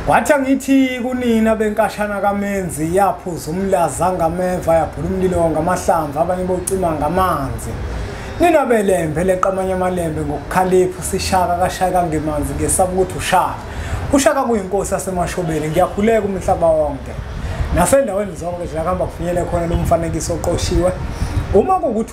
Wathi angithi kunina benkashana kamenzi yaphuza umlaza ngameva yabhula umlilo ngamahlamvu abanye bocima ngamanzi. Nina belembe leqamanye amalembe ngokukhalipha usishaka kashaya kangemanzi ngesaba ukuthi ushaka. Ushaka kuyinkosi yasemashobeni ngiyakhuleka umhlaba wonke. Nasendaweni zonke zilakamba kufinyele khona lomfanekiso oqoshiwe. Uma kukuthi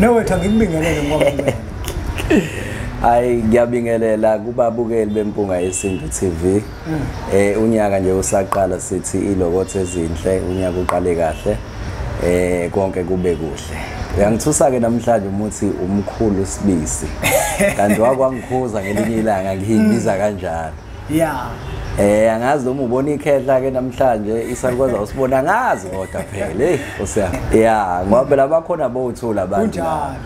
newethu angikubingelele ngoba hayi ngiyabingelela kubabukeli bempunga yesintu TV mm. eh unyaka nje usaqala sithi ilokothe ezinhle unyaka uqale kahle eh konke kube kuhle uyangithusa ke namhlanje umuthi umkhulu sibisi kanti wakwangikhuza ngelinye ilanga ngiyibiza kanjalo yeah Eh angazi noma ubona ikhehla ke namhlanje isalukaza usibona angazi kodwa phela hey usiya yeah ngoba phela bakhona bowuthula abantu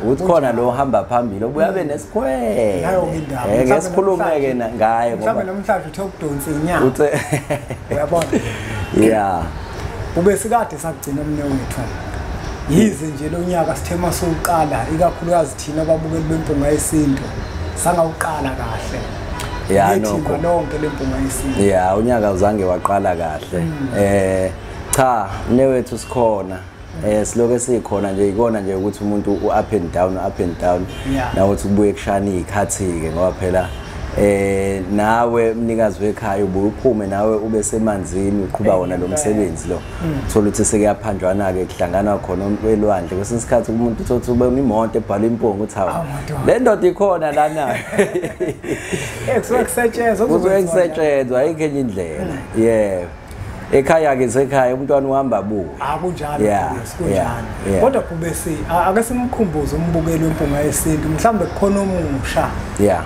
uthi khona lo hamba phambili obuya be nesikhwele ngayo indawo eh ngesikhulume ke ngaye ngoba mhlawumbe namhlanje uthe ukudonsa inyanga uthe uyabona yeah ube sikade sakugcina umne wethu yize nje lo nyaka sithema sokuqala ikakhulukazi thina ababukeli bempuma yesintu sangawuqala kahle ya nokho nonke lempunga yesintu ya unyaka uzange waqala kahle mm. eh cha newethu sikhona eh siloke sikhona nje ikona nje ukuthi umuntu u up and down up and down nawe uthi kubuye kushana izikhathi ke ngoba phela eh nawe mnikazi wekhaya ubuye uphume nawe ube semanzini uqhuba wona lo msebenzi lo thola ukuthi sekuyaphanjwana-ke kuhlanganwa khona elwandle kwesinye isikhathi umuntu uthothi ube imoto ebhalwe impunga uthi hawu le ndoda ikhona lana kuzokusetshenzwa ayikho enye indlela yeah ekhaya-ke sekhaya umntwana uhamba abuke akunjalo ah, kunjalo kodwa bhubesi ake simkhumbuze umbukeli wempunga yesintu mhlawumbe kukhona omusha yeah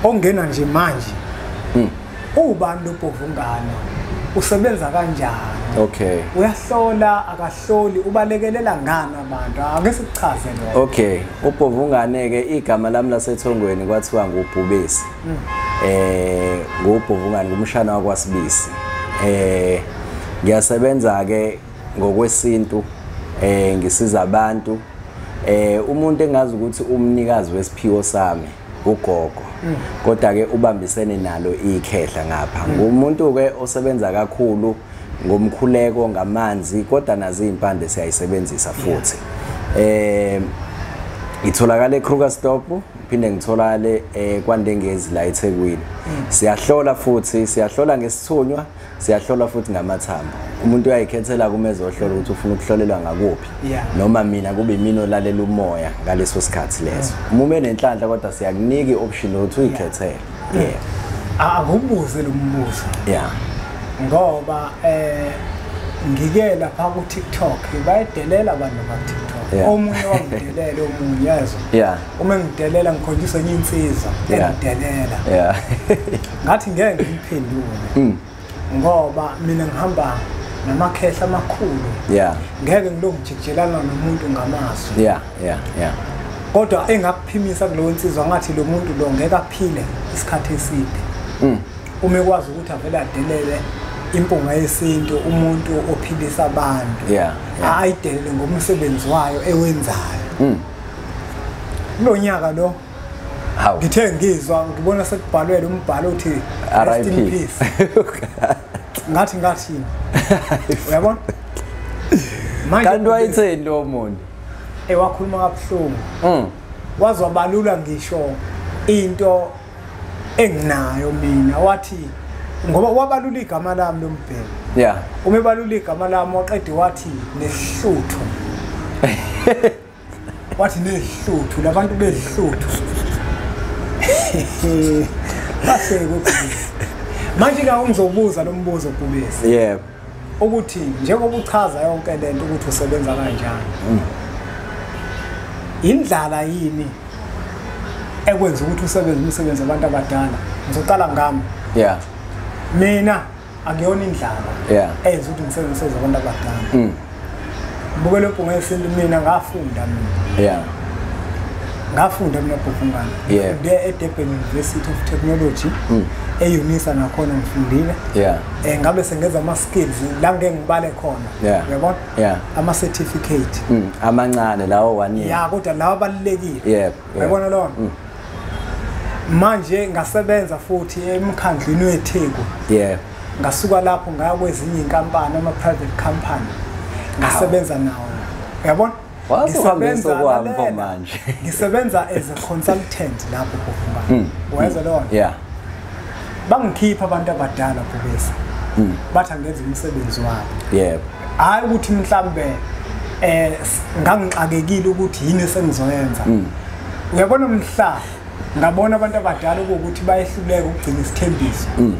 ongena nje manje hmm. Uwubani lo Bhovungana? Usebenza kanjani? Okay. Uyahlola akahloli ubalekelela ngani abantu? Ake sikuchaze lokho. Okay. Ubhovungane ke igama lami lasethongweni kwathiwa ngubhubesi. Mm. Eh ngubhovungane ngumshana wakwasibisi. Eh ngiyasebenza ke ngokwesintu eh ngisiza abantu eh umuntu engazi ukuthi umnikazi wesiphiwo sami ugogo mm. kodwa ke ubambisene nalo ikhehla ngapha mm. ngumuntu ke osebenza kakhulu ngomkhuleko ngamanzi kodwa nazi impande siyayisebenzisa futhi eh itholakala eKrugerstop phinde ngitholakale eh, kwaNdengezi la eThekwini mm. siyahlola futhi siyahlola ngesithunywa siyahlolwa futhi ngamathambo umuntu uyayikhethela kuma ezohlola ukuthi ufuna ukuhlolelwa ngakuphi noma mina kube imini olalela umoya ngaleso sikhathi leso mm. uma umenenhlanhla kodwa siyakunika i-option yokuthi uyikhethele mm. yeah ah, akubuze lo mbuzo yeah ngoba eh ngike lapha ku TikTok bayedelela abantu ba TikTok omunye wangidelela omunye yazo uma ngidelela ngikhonjiswa enye insizwa engidelela ngathi ngeke ngiphendule mm. ngoba mina ngihamba namakhehla amakhulu yeah ngeke ngilongijikijelana nomuntu ngamazwi yeah yeah yeah kodwa engakuphimisa kulowo nsizwa ngathi lo muntu lo ngeke aphile isikhathi eside mm. uma ekwazi ukuthi avele adelele impunga yesintu umuntu ophilisa abantu yeah, yeah. ayidelele ngomsebenzi wayo ewenzayo mm. kulo nyaka lo ngithe ngizwa ngibona sekubhalwele umbhalo uthi rest in peace ngathi ngathi uyabona manje kanti wayitheni lo muntu ewakhuluma kabuhlungu mm wazobalula ngisho into enginayo mina wathi ngoba wabalula igama lami lombheki yeah uma ebalula igama lami waqede wathi nehluthu wathi nehluthu labantu behluthu bahleke manje ka ungizobuza lo mbuzo kubisi yebo ukuthi njengoba uchaza yonke le nto ukuthi usebenza kanjani mm. indlala yini ekwenza ukuthi usebenze umsebenzi abantu abadala ngizoqala ngami yeah mina akuyona indlala yeah. eyenza ukuthi ngisebenzise zabantu abadala mm. bukele ubhunga yesintu mina ngafunda mina yeah. ngafunda mina bhufungana yeah. ngifunde edurban university of technology mm. eunisa nakhona ngifundile yeah. um ngabe sengenza ama-skills la ngike ngibale khona yeah. uyabona yeah. ama-certificate mm. amancane lawo one year ya kodwa lawo abalulekile yeah. yabona lona mm. manje ngasebenza futhi emkhandlwini wetheku yeah ngasuka lapho ngaya kwezinye inkampani ama private company ngasebenza nawo yabona wasebenza kwampo manje ngisebenza as a consultant lapho kufunga mm. wayeza lona yeah bangikhipha abantu abadala bhubesi hmm. bathi angenza umsebenzi wabo yebo hhayi ukuthi mhlawumbe eh ngangixakekile ukuthi yini esengizoyenza hmm. uyabona mhla ngabona abantu abadala ukuthi bayehluleka ukugcina isithembiso hmm.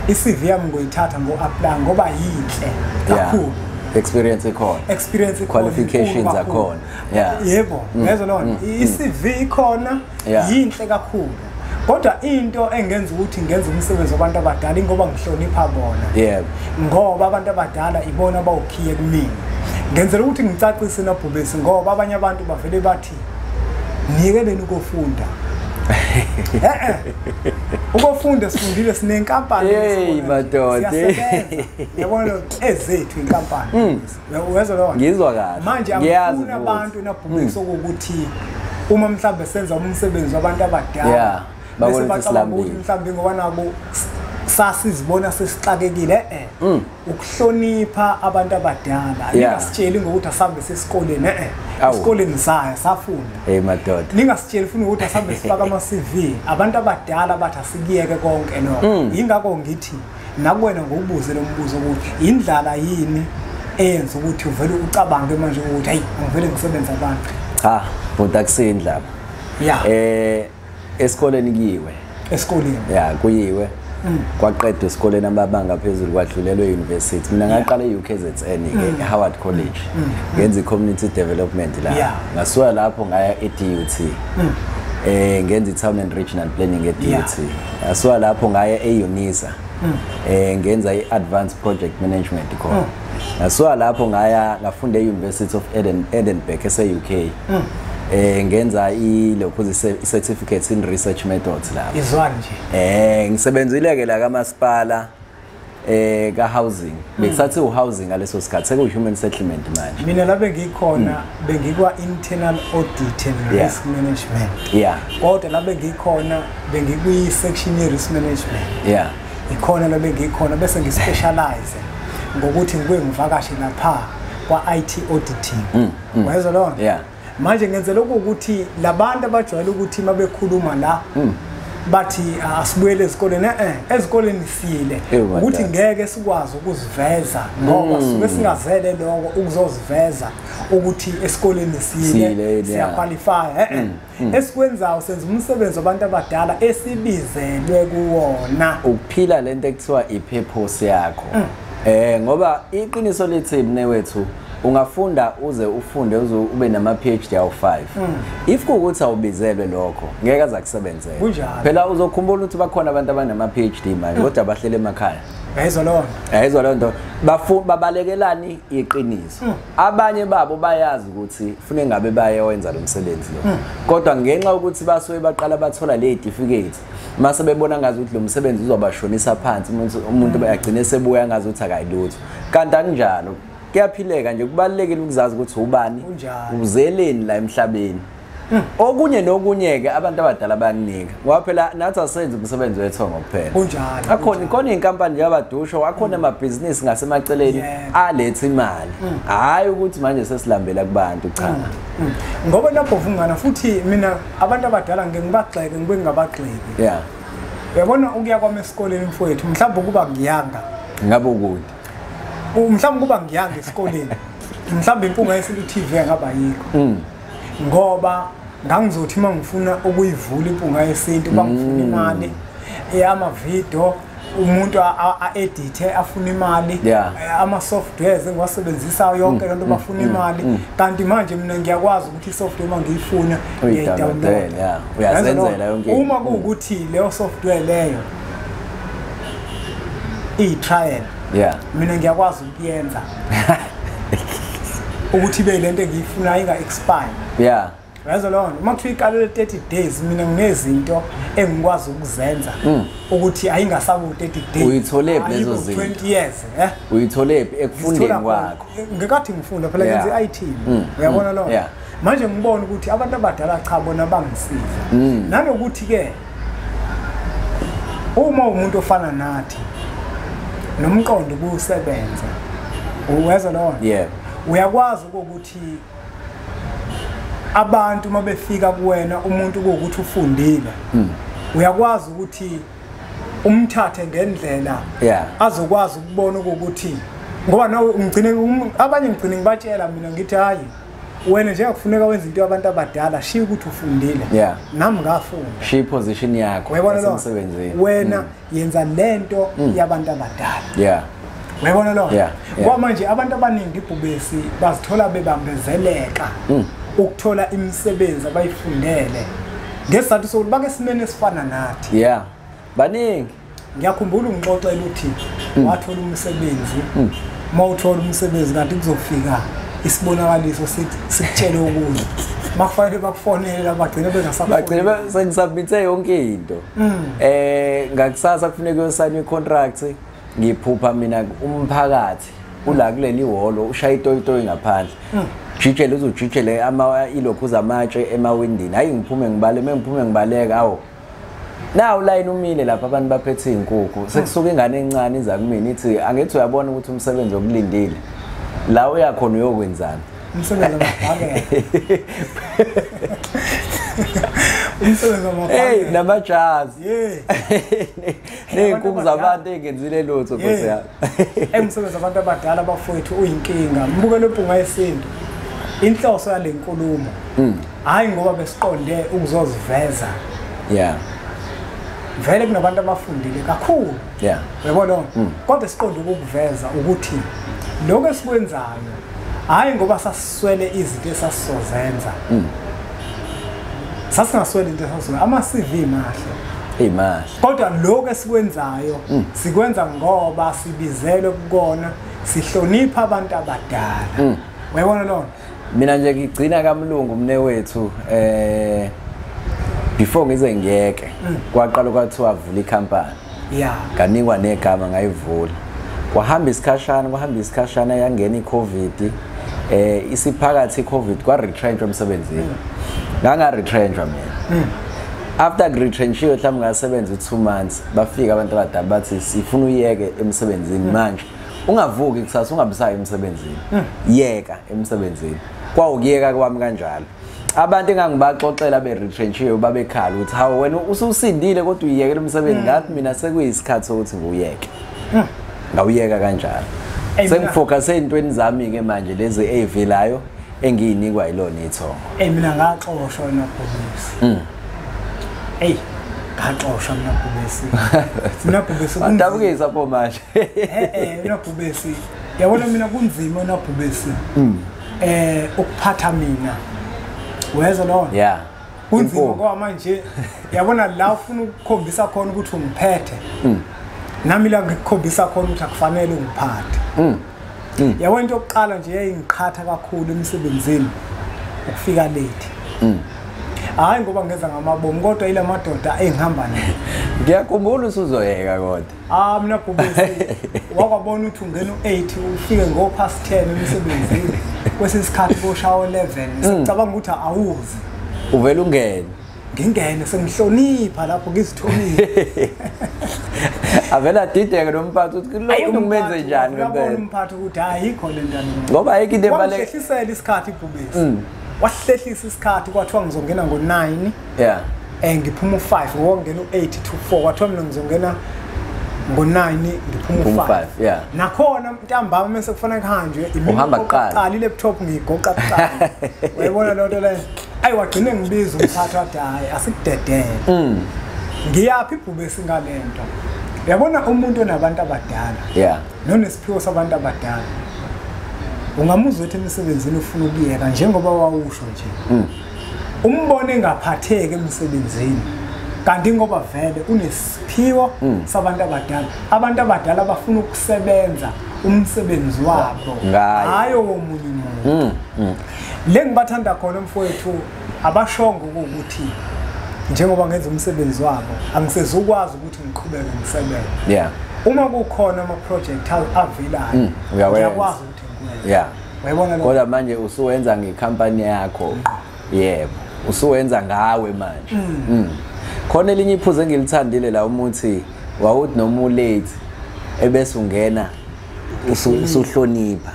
i-CV yami ngoyithatha ngo-apply ngoba yinhle kakhulu yeah. experience ikhona experience ikhona qualifications akhona yeah yebo mm. ngezwa lona mm. i-CV ikhona mm. yinhle kakhulu kodwa into engenza ukuthi ngenze umsebenzi wabantu abadala ingoba ngihlonipha bona yebo ngoba abantu abadala ibona bawukhiye kumina ngenzela ukuthi ngicacise nobhubesi ngoba abanye abantu bavele bathi nike beni ukofunda eh ukufunda sifundile sinenkampani hey madoda yabona ezethu inkampani hmm. uyezwa leyo ngizwa kahle manje angifuni abantu nabhumisa hmm. ukuthi uma mhlawumbe senza umsebenzi wabantu abadala bese bacabanga ukuthi mhlawumbe ngoba nabo sasizibona sesixakekile eh, eh. Hmm. ukuhlonipha abantu abadala ningasitsheli ngokuthi asambe sesikoleni eh, eh. esikoleni saya safunda hey madoda ningasitsheli futhi ukuthi asambe sifaka ama CV abantu abadala bathi asikiyeke konke no hmm. yingakho ngithi nakuwena ngokubuze lo mbuzo ukuthi yindlala yini eyenza ukuthi uvele ucabange manje ukuthi hayi angivele ngisebenza abantu cha bhuti akuseyindlala ya eh esikoleni kuyiwe esikoleni ya kuyiwe mm. kwaqedwa esikoleni amabanga phezulu kwadlulelwe e-university mina ngaqala e-ukzn mm. e-howard college mm. ngenza i-community development la ngasuka lapho ngaya e-dut um ngenza i-town and regional planning e-dut Ngasuka lapho ngaye eUnisa. Mm. Eh ngenza iAdvanced Project Management khona. Mm. Ngasuka lapho ngaya ngafunda eUniversity of Eden Edinburgh eseUK. Mm. eh ngenza ilokhu certificates in research methods lapho izwani nje eh ngisebenzile ke la kamasipala eh ka housing hmm. besathi u housing ngaleso sikhathi seku human settlement manje mina labe ngikhona hmm. bengikwa internal audit and risk management yeah kodwa labe ngikhona bengikwi section ye risk management yeah ikhona labe ngikhona bese ngi specialize ngokuthi ngibuye ngivakashe lapha kwa IT auditing hmm, wayezwa lona yeah manje ngenzela ukuthi labantu abajwayele ukuthi mabekhuluma la mm. bathi ah, asibuyele ezikoleni eh, eh ezikoleni sile ukuthi ngeke sikwazi ukuziveza ngoba mm. sibe singazele lokho ukuzoziveza ukuthi esikoleni sile siyaqualify eh, eh. Mm. esikwenzayo senza umsebenzi wabantu abadala esibizelwe kuwona ukuphila lento ekuthiwa i purpose yakho eh ngoba iqiniso lithi mne wethu ungafunda uze ufunde uze ube nama PhD awu 5 mm. if kukuthi awubizelwe lokho ngeke azakusebenzela kunjalo phela uzokhumbula ukuthi bakhona abantu abanama PhD manje mm. kodwa bahlele emakhaya Yayizwa loo nto. Yayizwa loo nto. Babalekelani iqiniso. Mm. Abanye babo bayazi ukuthi fune ngabe bayewenza lo msebenzi lo. Mm. Kodwa ngenxa ukuthi basuke baqala bathola le certificate mase bebona ngazi ukuthi lo msebenzi uzobashonisa phansi umuntu umuntu mm. bayagcina sebuya ngazi ukuthi akayilutho. Kanti akunjalo. kuyaphileka nje kubalulekile ukuzazi ukuthi ubani uzeleni la emhlabeni hmm. okunye nokunye-ke abantu abadala bayakunika ngoba phela nathi asenzi umsebenzi wethongo kuphela kunjalo akhona ikhona iy'nkampani nje abadusho akhona hmm. amabhizinisi ngasemaceleni aletha imali hmm. hhayi ukuthi manje sesilambela kubantu cha ngoba lapho vungana futhi mina abantu abadala ngike ngibagxeke ngibe ngingabagxeki ya uyabona ukuya kwami esikoleni mfowethu mhlawumbe ukuba ngiyanga ngabe ukude mhlawumbe kuba ngiyanga esikoleni mhlawumbe impunga yesilu TV engaba yikho mm. ngoba ngangizothi uma ngifuna ukuyivula impunga yesintu bangifuna mm. imali eyamavidiyo umuntu a-edithe afuna imali eh, ama-softwares engiwasebenzisayo yonke mm, loo nto mm, bafuna mm, imali kanti manje mina ngiyakwazi ukuthi i-software uma ngiyifuna ngiyayidawunloda uma kuwukuthi leyo software leyo iyitrial yeah mina ngiyakwazi ukuyenza ukuthi be lento engiyifuna inga expire yeah yazo lona uma kuthiwa iqalele 30 days mina nginezinto engikwazi ukuzenza mm. ukuthi ayingasabu 30 days uyithole phi lezo zinto 20 years eh uyithole phi ekufundeni kwakho ngekathi ngifunda phela ngenza i-IT mm. uyabona mm. lona manje ngibona ukuthi abantu abadala cha bona bangisiza mm. nanokuthi ke uma umuntu ofana nathi nomqondo kusebenza uweza lona yeah uyakwazi ukuthi abantu uma befika kuwena umuntu ukuthi ufundile mm. uyakwazi ukuthi umthathe ngendlela yeah azokwazi ukubona ukuthi ngoba no ngigcine um, abanye ngigcine ngibatshela mina ngithi hayi wena nje akufuneka wenza into yabantu abadala shiya ukuthi ufundile yeah. nami ngafunda shiya iposition yakho emsebenzini wena mm. yenza lento mm. yabantu abadala yeah uyabona lo yeah, yeah. kwama nje abantu abaningi ibhubesi bazithola bebambezeleka mm. ukuthola imisebenzi abayifundele ngesizathu sokuthi bake simene esifana nathi yeah baningi ngiyakhumbula ungixoxela uthi mm. wathola umsebenzi mm. uma uthola umsebenzi kanti kuzofika isibonakaliso sikutshele okunye makufanele bakufonele labagcine bengasabagcine sengisabmithe yonke into mm. eh ngakusasa kufuneka uyosayina icontract ngiphupha mina umphakathi ula kuleli ihholo ushaya itoyitoyi ngaphandle jijele uzujijele ilokhu zamatshe emawindini hhayi ngiphume ngibale uma ngiphume ngibaleka awu nawu layini umile lapha abantu baphethe iy'nkukhu sekusuka ingane encane iza kumina ithi angithi uyabona ukuthi umsebenzi okulindile la uyakhona uyokwenzani umsebenzi Hey namajazi. Hey. Neyinkuku zabantu engenzile lutho Nkosi yami. Emsebenzi abantu abadala abafowethu uyinkinga. Mbuke lompunga yesintu. Inhloso yalenkulumo. Mm. Hayi ngoba besiqonde ukuzoziveza. Yeah. Vele kunabantu abafundile kakhulu. Yeah. Uyabona? Mm. Kodwa siqonde ukukuveza ukuthi lokho esikwenzayo hayi ngoba sas swele izinto esasizozenza mm. sasingaswele into esasizozenza ama-cv mahle imahle kodwa lokho esikwenzayo mm. sikwenza ngoba sibizelwe kukona sihlonipha abantu abadala mm. uyabona lona mina nje ngigcina kamlungu mne wethu eh before ngize ngiyeke mm. kwaqala kwathiwa vula ikhampani yeah kanikwa negama ngayivula kwahamba isikhashana kwahamba isikhashana yangena icovid eh isiphakathi icovid kwa retrench emsebenzini mm. nganga retrench mina mm. after retrenchiwe mhlawumbe ngasebenza u2 months bafika abantu abadala bathi sifuna uyeke emsebenzini mm. manje ungavuki kusasa ungabisayi emsebenzini yeka emsebenzini kwawukuyeka kwami kanjalo abantu engangibaxoxela be-retrenchiwe babekhala ukuthi hawu wena ususindile kodwa uyiyekela umsebenzi ngathi mina sekuyisikhathi sokuthi ngiwuyeke hmm. ngawuyeka kanjalo sengifocuse ey'ntweni zami-ke manje lezi ey'velayo engiyinikwa yilona ithongo eyi mina ngaxoshwa nabhubesi hmm. eyi ngaxoshwa mina bhubesi mina bhubesi adabukisa pho manje e-e mina bhubesi yabona mina kunzima unabhubesi hmm. eh ukuphatha mina wezwa lona yeah kunzima ngoba manje yabona la ufuna ukukhombisa khona ukuthi ungiphethe mm. nami la ngikukhombisa khona ukuthi akufanele ungiphathe mm. mm. yabona into yokuqala nje yayingiqhatha kakhulu emsebenzini ukufika late mm. hayi ngoba ngenza ngamabomu kodwa ile madoda engihamba nayo ngiyakhumbula usuzoyeka kodwa Ah mina bhubesi wakwabona ukuthi ungena u8 ufike ngo past 10 emsebenzini kwesinye isikhathi koshawo 11 hmm. sicabanga ukuthi awuzi uvela ungene ngingene sengihlonipha lapho ngizithomile avela dideke nomphathi ukuthi lona umenze njani ngempela umphathi ukuthi ayikho le ndana ngoba ayikho into ebalekile wahlisela isikhathi ibhubesi hmm. wahlehlisa isikhathi kwathiwa ngizongena ngo-9 yeah eh ngiphuma u5 ngokungena u8 to 4 kwathiwa mina ngizongena ngo9 ngiphuma u5 yeah nakhona ntambama mase kufanele kuhanjwe uhamba kuqala qali laptop ngigoqa kuqala uyabona lonto le ayi wagcine ngibiza umthatha wathi hayi asikudedele mm ngiyaphi ibhube singalento yabona umuntu onabantu abadala yeah nonesiphiwo sabantu abadala ungamuzwa ukuthi emsebenzini ufuna ukuyeka njengoba wawusho nje mm. umbone engaphatheki emsebenzini kanti ngoba vele unesiphiwo mm. sabantu abadala abantu abadala bafuna ukusebenza umsebenzi wabo hayi owomunye umuntu mm, mm. le ngibathanda khona mfowethu abashongo ukuthi njengoba ngenza umsebenzi wabo angisezukwazi ukuthi ngiqhubeke ngisebenze yeah uma kukhona ama project avelayo mm, uyakwazi yeah uyabona kodwa manje usuwenza ngecompany yakho mm. yebo usuwenza ngawe manje mm. mm. khona elinye iphuze engilithandile la umuthi wawuthi noma ulate ebese ungena usuhlonipha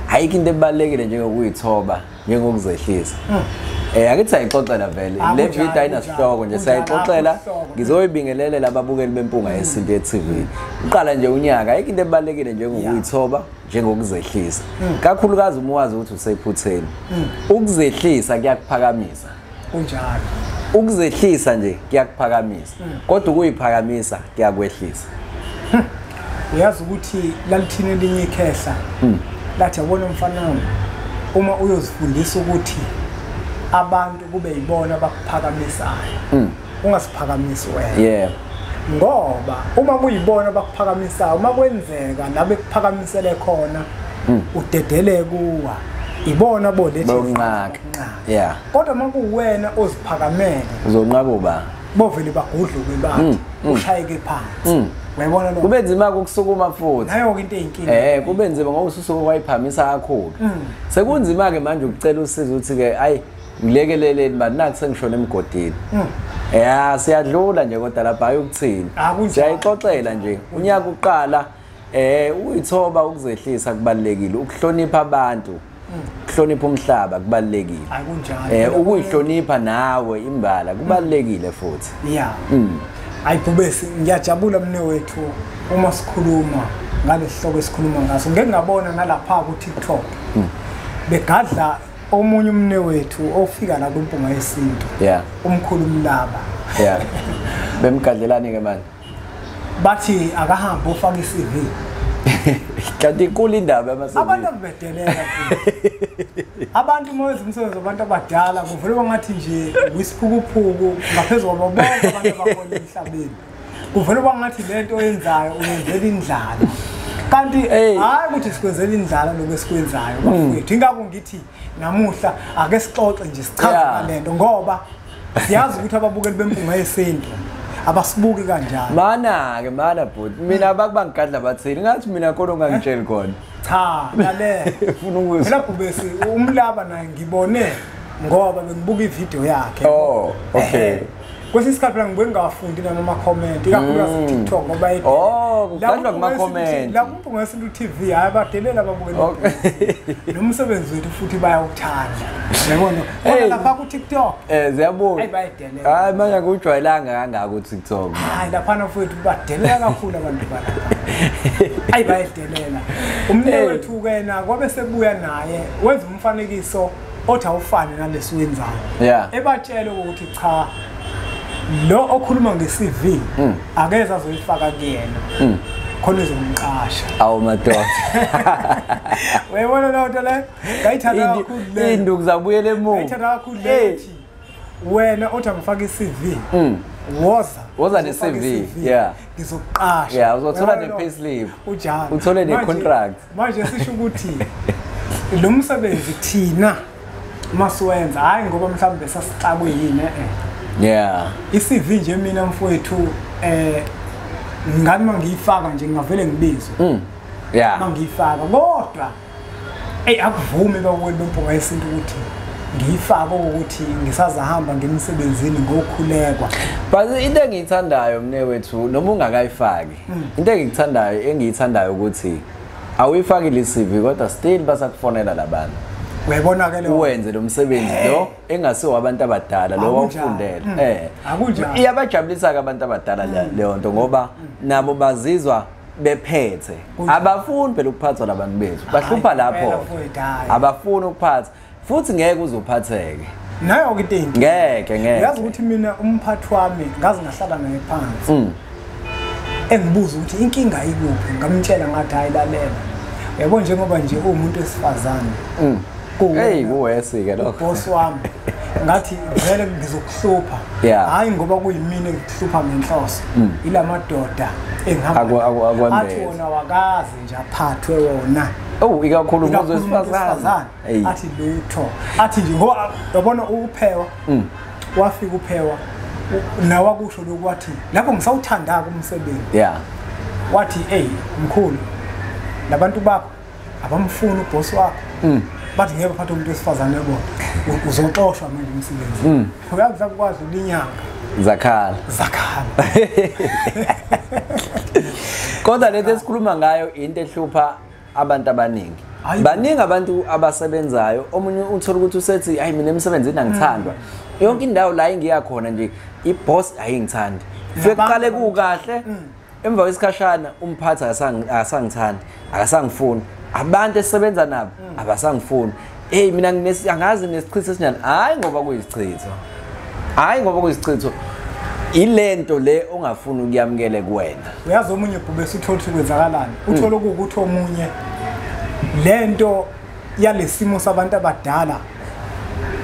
ayikho into ebalekile njengokuyithoba njengokuzehlisa um eh, angithi sayixoxela vele ah, le video ayinasihloko nje sayixoxela ngizoyibingelelela ababukeli bempunga yesintu ye-tv uqala nje unyaka ayikho into ebalulekile njengokuyithoba njengokuzehlisa hmm. kakhulukazi uma wazi ukuthi usephutheni hmm. ukuzehlisa kuyakuphakamisa kunjalo ukuzehlisa nje kuyakuphakamisa hmm. kodwa ukuyiphakamisa kuyakwehlisa hmm. uyazi ukuthi lalithini elinye ikhehla hmm. lathi yabona umfana uma uyozifundisa ukuthi abantu kube yibona abakuphakamisayo ungasiphakamisi wena yeah ngoba uma kuyibona abakuphakamisayo uma kwenzeka la bekuphakamisele khona udedeleke kuwa ibona bolethi yeah kodwa uma kuwena oziphakamele uzonqaba uba bovele bagudluke bathi mm, mm. ushayeke phansi mm. uyabona lo kube nzima ukusukuma futhi nayo ke into eyinkinga eh kube nzima ngoba ususuka kwayiphamisa kakhulu sekunzima ke manje ukucela usizo ukuthi ke ayi ngilekeleleni manje naku sengishona emgodini ya siyadlula nje kodwa lapha ayokuthini ah, siyayixoxela nje unyaka uqala Eh uyithoba ukuzehlisa kubalekile ukuhlonipha abantu ukuhlonipha umhlaba kubalekile akunjalo eh ukuyihlonipha nawe imbala kubalekile futhi yeah mm. ayibhubesi ngiyajabula mne wethu uma sikhuluma ngalesihloko esikhuluma ngaso ngeke ngabona nalapha ku TikTok mm. begadla omunye umne wethu ofika la kwimpunga yesintu yeah umkhulu mlaba yeah bemgadlelani ke manje bathi akahambe ofaka i-cv kanti inkulu indaba yamasebenzi abantu akubedelela abantu uma wenza umsebenzi wabantu abadala kuvele bangathi nje wisiphukuphuku ngaphezu kwabo bonke abantu abakhona emhlabeni kuvele bangathi le nto oyenzayo uyenzela indlala kanti hhayi ukuthi sikwenzela indlala lokhu esikwenzayo bafowethu ingakho ngithi namuhla ake sixoxe nje sichaze yeah. lento ngoba siyazi ukuthi ababukeli bempunga yesintu abasibuki kanjani mana ke mana bhuti mina abakubangigadla bathini ngathi mina khona ongangitsheli khona cha lalela ufuna ukuzwa phela bhubesi umlaba naye ngibone ngoba bengibuka ivideo yakhe oh okay kwesinye isikhathi mina ngibuye ngingawafundi nami amakhomenti ikakhulukazi mm. tiktok ngoba edlala oh, kumakhomenti lapho umpunga wesintu t v hhayi abadelela ababukeli nomsebenzi wethu futhi bayawuthanda yabona kodwa lapha kutiktok um eh, ziyabuya bayidelela hhayi manje angikujwayelanga kangako utiktok hhayi laphana futhi badelela kakhulu abantu balapha ayi bayidelela umne wethu-ke na kwabe sebuya naye wenza umfanekiso othi awufane nalesiwenzayo yeah. ebatshele ukuthi cha lo okhuluma nge-cv mm. akeze azoyifaka kuyena mm. khona izomqasha awu madoda uyayibona loo nto le ngayithanda kakhulu le induku zabuyela emuva ngayithanda kakhulu le wena othi angifake i-cv mm. woza woza ne-cv yeah ngizokuqasha yeah uzothola ne-payslip ujani uthole ne-contract manje sisho ukuthi lo msebenzi thina uma siwenza hhayi ngoba mhlawumbe besasixakwe yini e-e yeah i-cv nje mina mfowethu um eh, ngani uma ngiyifaka nje ngingavele ngibizwe mm. yeah uma ngiyifaka kodwa eyi akuvumi bakweli bempunga yesintu ukuthi ngiyifake ukuthi ngisazahamba ngemsebenzini ngokhulekwa but into engiyithandayo mne wethu noma ungakayifaki hmm. into engikuthandayo engiyithandayo ukuthi awuyifakile i-cv kodwa still basakufonela labantu uyayibona ke lo wenze lo msebenzi eh. lo engasiwo abantu abadala lo wawufundela hmm. eh iyabajabulisa ke abantu abadala hmm. leyo nto ngoba nabo bazizwa bephethe abafuni phela ukuphathwa labantu bethu bahlupha lapho abafuni ukuphatha futhi ngeke uzophatheke naye okitengi ngeke ngeke yazi ukuthi mina umphathi wami ngazi ngahlala naye phansi mm. engibuza ukuthi inkinga ikuphi ngamtshela ngathi hayi lalela yabo njengoba nje uwumuntu wesifazane mm. hey kuwesi ke lokho boss wami ngathi vele ngizokuhlupha hayi ngoba kuyimina engikuhlupha ngenhloso mm. ilamadoda engihamba athi wona wakazi nje aphathwe wona owu ikakhulu umuntu wesifazane athi lutho athi nje ngoba yabona uphewa mm. wafika uphewa nawe akusho lokhu wathi lapho ngisawuthanda-ke umsebenzi ya wathi eyi mkhulu nabantu bakho abamfuni ubhosi wakho mm. bathi ngeke baphathe umuntu wesifazane bona uzoxoshwa manje umsebenzi mm. uyazi sakukwazi ulinyanga zakhala zakhala kodwa lento esikhuluma ngayo into ehlupha abantu abaningi baningi abantu abasebenzayo omunye uthola ukuthi usethi hayi mina emsebenzini angithandwa mm. yonke indawo la engiya khona nje i-boss ayingithandi fekuqale kukahle mm. emva kwesikhashana umphathi akasangithandi akasangifuni abantu esisebenza nabo mm. abasangifuni eyi mina angazi nesichitho esinjani hhayi ngoba kuyisichitho hhayi ngoba kuyisichitho ilento le ongafuni ukuyamukele kuwena uyazi omunye bhube sithole ukuthi kwenzakalani mm. uthole ukuthi omunye lento yalesimo sabantu abadala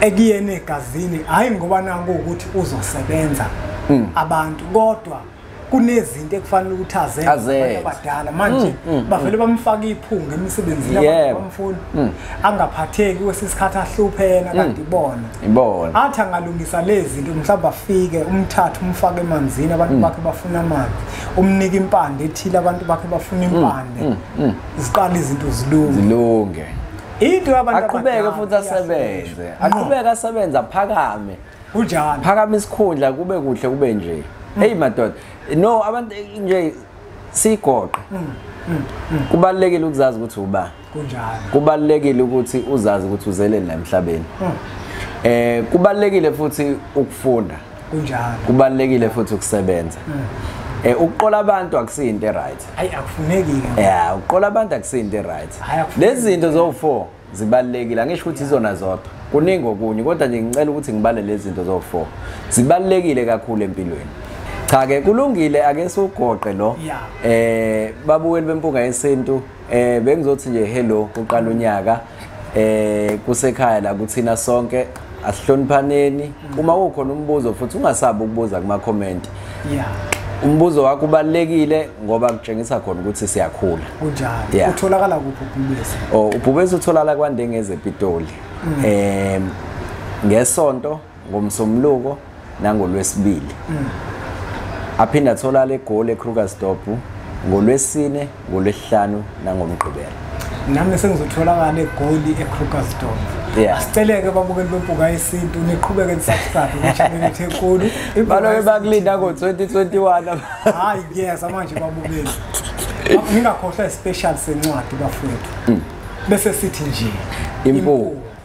ekuyena egazini hhayi ngoba nakuwukuthi uzosebenza mm. abantu kodwa kunezinto ekufanele ukuthi azenze abadala manje mm, mm, bavele mm. bamfaka iphunga emisebenzini yabamfuni angaphatheki kwesisikhathi ahlupheka kanti ibona ibona athi angalungisa lezi zinto mhlawumbe afike umthathe umfake emanzini abantu bakhe bafuna amanzi umnike impande ethile abantu bakhe bafuna impande ziqala izinto zilunge zilunge into yabantu aqhubeke futhi asebenze aqhubeke asebenza phakame kunjalo phakama isikhundla kube kuhle kube nje mm. hey madoda no abantu nje sigoqe mm, mm, mm. kubalekile ukuzazi ukuthi uba kunjalo kubalekile ukuthi uzazi ukuthi uzeleni la emhlabeni mm. eh kubalekile futhi ukufunda kunjalo kubalekile futhi ukusebenza mm. eh ukuqola abantu akusinto right hayi akufuneki ke yeah ukuqola abantu akusinto right lezi zinto zo 4 zibalulekile angisho ukuthi izona zodwa kuningi okunye kodwa nje ngicela ukuthi ngibale lezi zinto zowu-four zibalulekile kakhulu empilweni cha-ke kulungile ake siwugoqe lo eh babuweli bempunga yesintu eh bengizothi nje hello kuqala unyaka eh kusekhaya la kuthina sonke asihloniphaneni uma kukhona umbuzo futhi ungasabi ukubuza kuma comment yeah umbuzo wakho ubalekile ngoba kutshengisa khona ukuthi siyakhula kunjalo utholakala kuphi ubhubesi oh ubhubesi utholakala kwandengeze epitoli mm. em ngesonto ngomsomluko nangolwesibili aphinde atholala egoli ekrugersdorp ngolwesine ngolwesihlanu nangomgqibelo nami sengizotholakala egoli ekrugersdorp asiceleke babukeli bempuka yesintu niqhubeke nisakufake kuchaneleth enkulu baloke bakulinda ngo-2021 hayi yes amanje babukeli ngingakhohlwa isispecial sencwadi bafowethu mm. bese sithi nje impuku